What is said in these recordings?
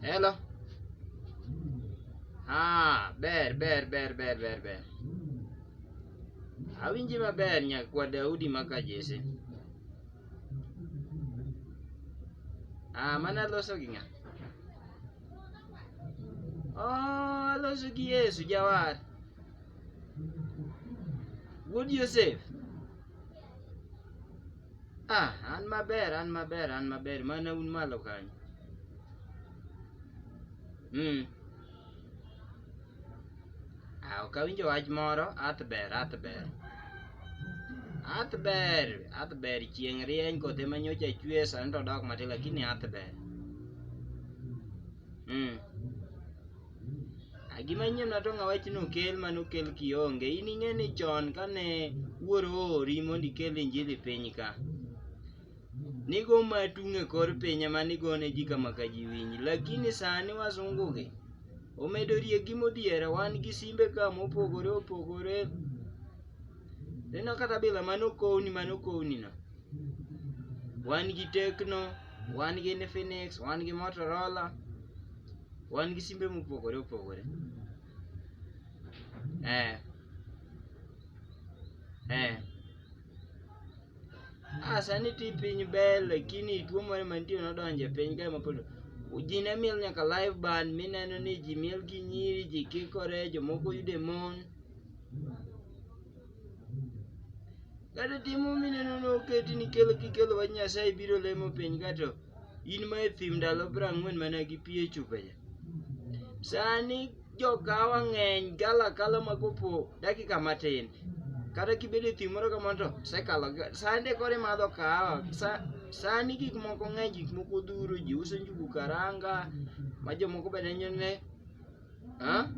Hello. Ah, ber ber ber ber ber ber. Awinji maber nyakwa Daudi maka Jesse. Ah, mana loso gi ng'a? Oh, aloso gi Yesu jawar. Wuod Yosef. Ah, an maber, an maber, an maber. Mana un malo kanyo. Mm. Ah, ok awinjo wach moro, ath ber, ath ber. Ath ber, ath ber chieng' rieny koth ema nyocha chwe sani to odok matin lakini ath ber. Mm. Gima nyien ma to ng'a wachi ni okel mane okel kionge. In ing'e ni chon kane wuoro oori mondo ikel injili piny ka, nigo matung' e kor piny ema nigo ne ji kama ka ji winji. Lakini sani wasungu gi, omedo riegi modhiera, wan gi simbe ka mopogore opogore. Ineno kata bila mane okowni mane okowni no. Wan gi Tecno, wan gi Infinix, wan gi Motorola, Wan gi simbe mopogore opogore. Eh. Eh. Ah, sani ti piny ber lakini tuo moro mantie nodonje piny kae mapod ji ne miel nyaka live band mineno ni ji miel gi nyiri ji kikore jomoko yude mon Kata timo mineno ne oketi ni kelo kikelo wach Nyasaye biro lemo piny kato in ma e thim ndalo piero ang'wen mana gi pi e chupa cha. Sani jokawa ng'eny gala kala ma kopo dakika matin. Kata kibedo e thim moro kamano to sekalo sande kore madho kahawa. Sa, sani gik moko ng'eny gik moko dhuro ji uso njugu karanga ma jomoko bende nyone Ha?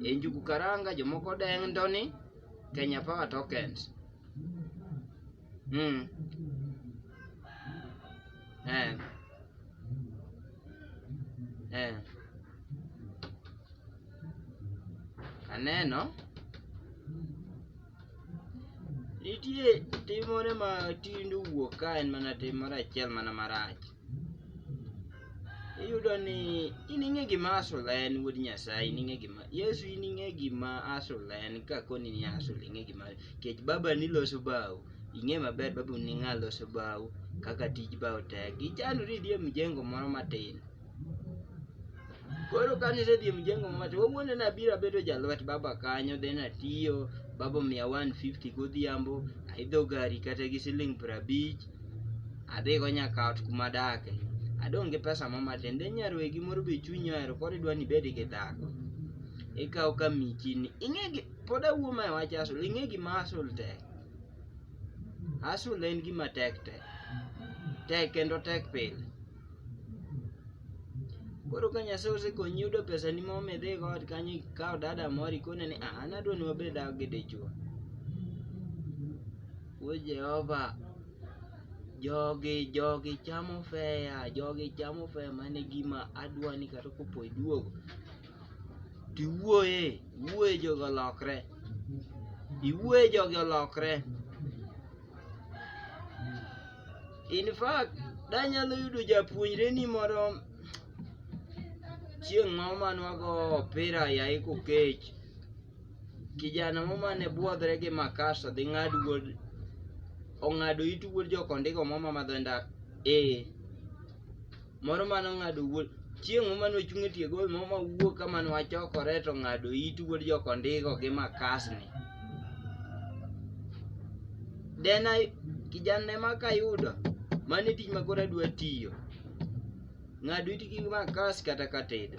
E njugu karanga jomoko dendo ni Kenya Power Tokens. Mm. Eh. Eh. Aneno nitie tim moro ma tinde wuok ka en mana tim moro achiel mana marach. iyudo ni in ing'e gima asula en wuod nyasaye in ing'e gima yesu in ing'e gima asula en kakoni ni asula ing'e gima kech baba ni loso bao ing'e maber baba ni ng'a loso bao kaka tij bao tek ichandori idhi e mjengo moro matin koro kane isedhi e mjengo moro matin wawuondo ni abiro abedo jalwet baba kanyo then atiyo baba omiya 150 godhiambo aidho gari kata gi siling' prabich adhigo nyaka ot kuma adake adong' gi pesa mo matin then nyarwegi moro be chunyi ohero koro idwa ni ibed gi dhako ikawo ka michini ing'e gi pod awuo ma e wach asul ing'e gima asul tek asul en gima tek tek tek kendo tek pile koro ka nyasaye osekonyi yudo pesa ni mo midhi god kanyo ikawo dada moro ikone ni "Ah, an adwa ni wabed dak gi dichwo We Jehova, jogi jogi chamo feya, jogi chamo feya mane gima adwani kata kopo iduogo. Tiwuoye, wuoye jogi olokre. Iwuoye jogi olokre. In fact, danyalo yudo japuonjre ni moro chieng' moro manwago opira yayi kokech Kijana moro mane bwodhre gi makasa dhi ng'ad wuod ong'ado it wuod jokondiko moro ma madho nda ee moro mane ong'ado wuod chieng' moro mane ochung' e tie gol moro ma wuok ka mane wachokore to ong'ado it wuod jokondiko gi makasni dena kijana ema kayudo mane tich ma koro adwa tiyo ng'ado it gi makas kata katedo